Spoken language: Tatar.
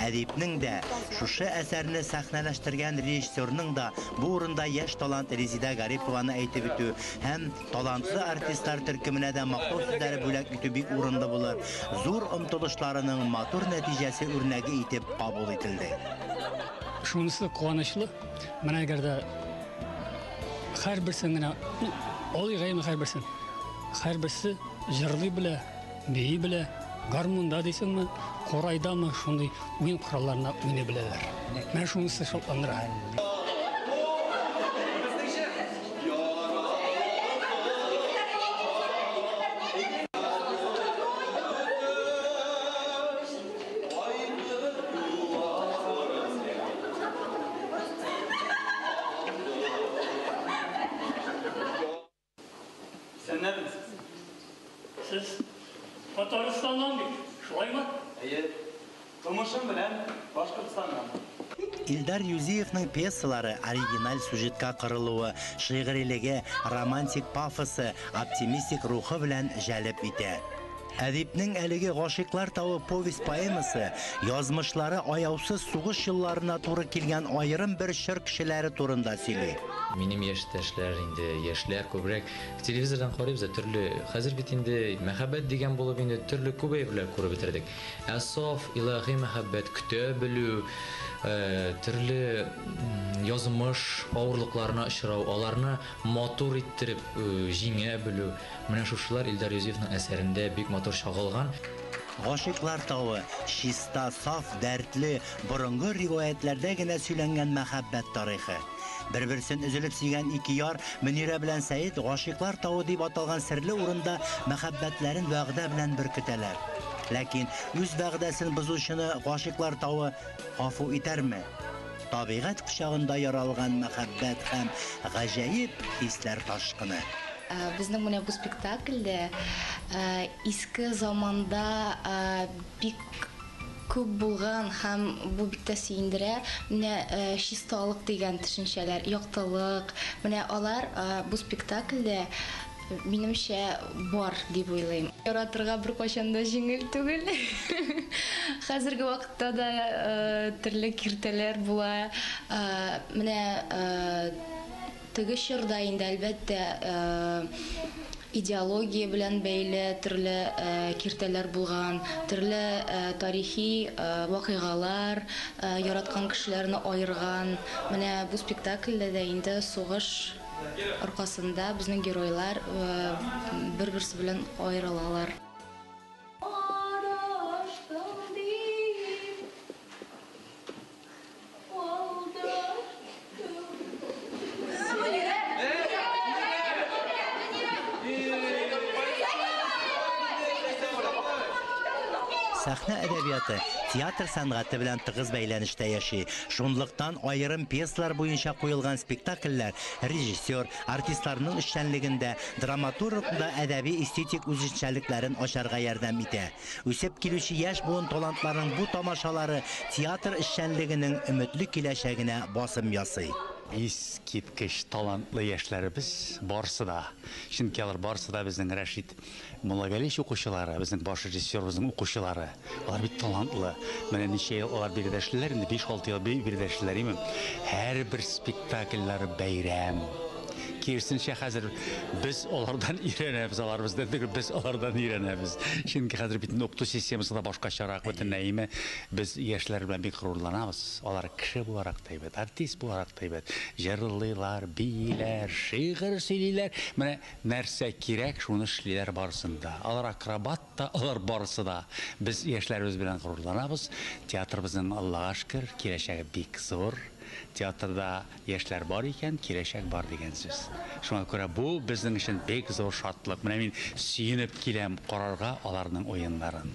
Әдипнең дә, шушы әсәрне сәхнәләштергән режиссерның да бу урында яшь талант Резидә Гарипованы әйтеп үтү һәм талантлы артистлар төркеменә дә мактау сүзләре бүләк итү бик урынлы булыр, зур омтылышларының матур нәтиҗәсе үрнәге итеп кабул ителде. Шунысы куанычлы, менә әгәр дә һәрберсен генә алыйк әле һәрберсен, һәрберсе җырлый белә, Бии белә, гармунда дисеңме, корайдамы, шундый уен коралларына уйный беләләр. Менә шунысы шатландыра. Исәннәрме сез? Сез Татарстаннан бит, шулаймы? Әйе. Тумышым белән Башкортстаннан. Илдар Юзиевның пьесалары оригиналь сюжетка корылуы, шигърилеге, романтик пафосы, оптимистик рухы белән җәлеп итә. Әдипнең әлеге Гашыйклар тавы повесть-поэмасы язмышлары аяусыз сугыш елларына туры килгән аерым бер чор кешеләре турында сөйли. Минем яшьтәшләр инде, яшьләр күбрәк телевизордан карыйбыз да, төрле, хәзер бит инде мәхәббәт дигән булып инде төрле күп әйберләр күреп бетердек. Ә саф, илаһи мәхәббәт, көтә белү, төрле язмыш авырлыкларына очрау, аларны матур иттереп җиңә белү, Менә шушылар Илдар Юзефның әсәрендә бик матур чагылган. Гашыйклар тавы, чиста, саф, дәртле, борынгы риваятьләрдә генә сөйләнгән мәхәббәт тарихы. Бер-берсен өзелеп сөйгән ике яр, Мөнирә белән Сәет, Гашыйклар тавы дип аталган серле урында мәхәббәтләрен вәгъдә белән беркетәләр. Ләкин үз вәгъдәсен бозучыны Гашыйклар тавы гафу итәрме? Табигать кочагында яралган мәхәббәт һәм гаҗәеп хисләр ташкыны. Безнең менә бу спектакльдә иске заманда бик күп булган һәм бу бик тә сөендерә, менә чисталык дигән төшенчәләр, яктылык, менә алар бу спектакльдә Минемчә, бар дип уйлыйм. Яратырга беркайчан да җиңел түгел. Хәзерге вакытта да төрле киртәләр була. Менә теге чорда инде, әлбәттә, идеология белән бәйле төрле киртәләр булган, төрле тарихи вакыйгалар яраткан кешеләрне аерган. Менә бу спектакльдә дә инде сугыш. аркасында безнең геройлар бер-берсе белән аерылалар. Адаштың дип, алдаштың. Сәхнә әдәбияты театр сәнгате белән тыгыз бәйләнештә яши. Шунлыктан аерым пьесалар буенча куелган спектакльләр режиссер, артистларның эшчәнлеген дә, драматургның да әдәби-эстетик үзенчәлекләрен ачарга ярдәм итә. Үсеп килүче яшь буын талантларының бу тамашалары театр эшчәнлегенең өметле киләчәгенә басым ясый. Искиткеч талантлы яшьләребез барысы да, чөнки алар барысы да безнең Рәшит Муллагәлич укучылары, безнең баш режиссерыбызның укучылары. Алар бик талантлы. Менә ничә ел алар биредә эшлиләр инде, биш-алты ел биредә эшлиләр, имем. Һәрбер спектакльләре бәйрәм. Киресенчә, хәзер без алардан өйрәнәбез, алар бездән түгел, без алардан өйрәнәбез. Чөнки хәзер бит инде укыту системасы да башкачарак бөтенләй, име. Без яшьләр белән бик горурланабыз. Алар кеше буларак та әйбәт, артист буларак та әйбәт. Җырлыйлар, бииләр, шигырь сөйлиләр. Менә Нәрсә кирәк, шуны эшлиләр барысын да. Алар акробат та, алар барысы да. Без яшьләребез белән горурланабыз. Театрыбызның, Аллага шөкер, киләчәге бик зур. Театрда яшьләр бар икән, киләчәк бар дигән сүз. Шуңа күрә бу безнең өчен бик зур шатлык. Менә мин сөенеп киләм карарга аларның уеннарын.